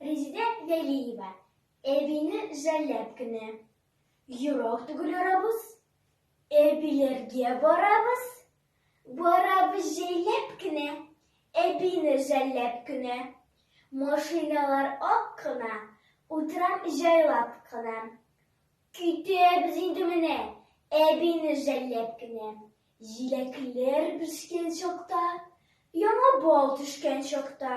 Резидә Вәлиева әбине жәлләп кенә. Йорак түгел арабыз, әбиләргә барабыз, барабыз җәйләп кенә, әбине жәлләп кенә. Машиналар ак кына, утрам җайлап кына. Көйтәбез инде менә, әбине жәлләп кенә. Җиләкләр бешкән чакта, яңа бал төшкән чакта.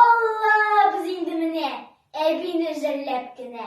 Аллабыз инде менә, әбине җәлләп кенә.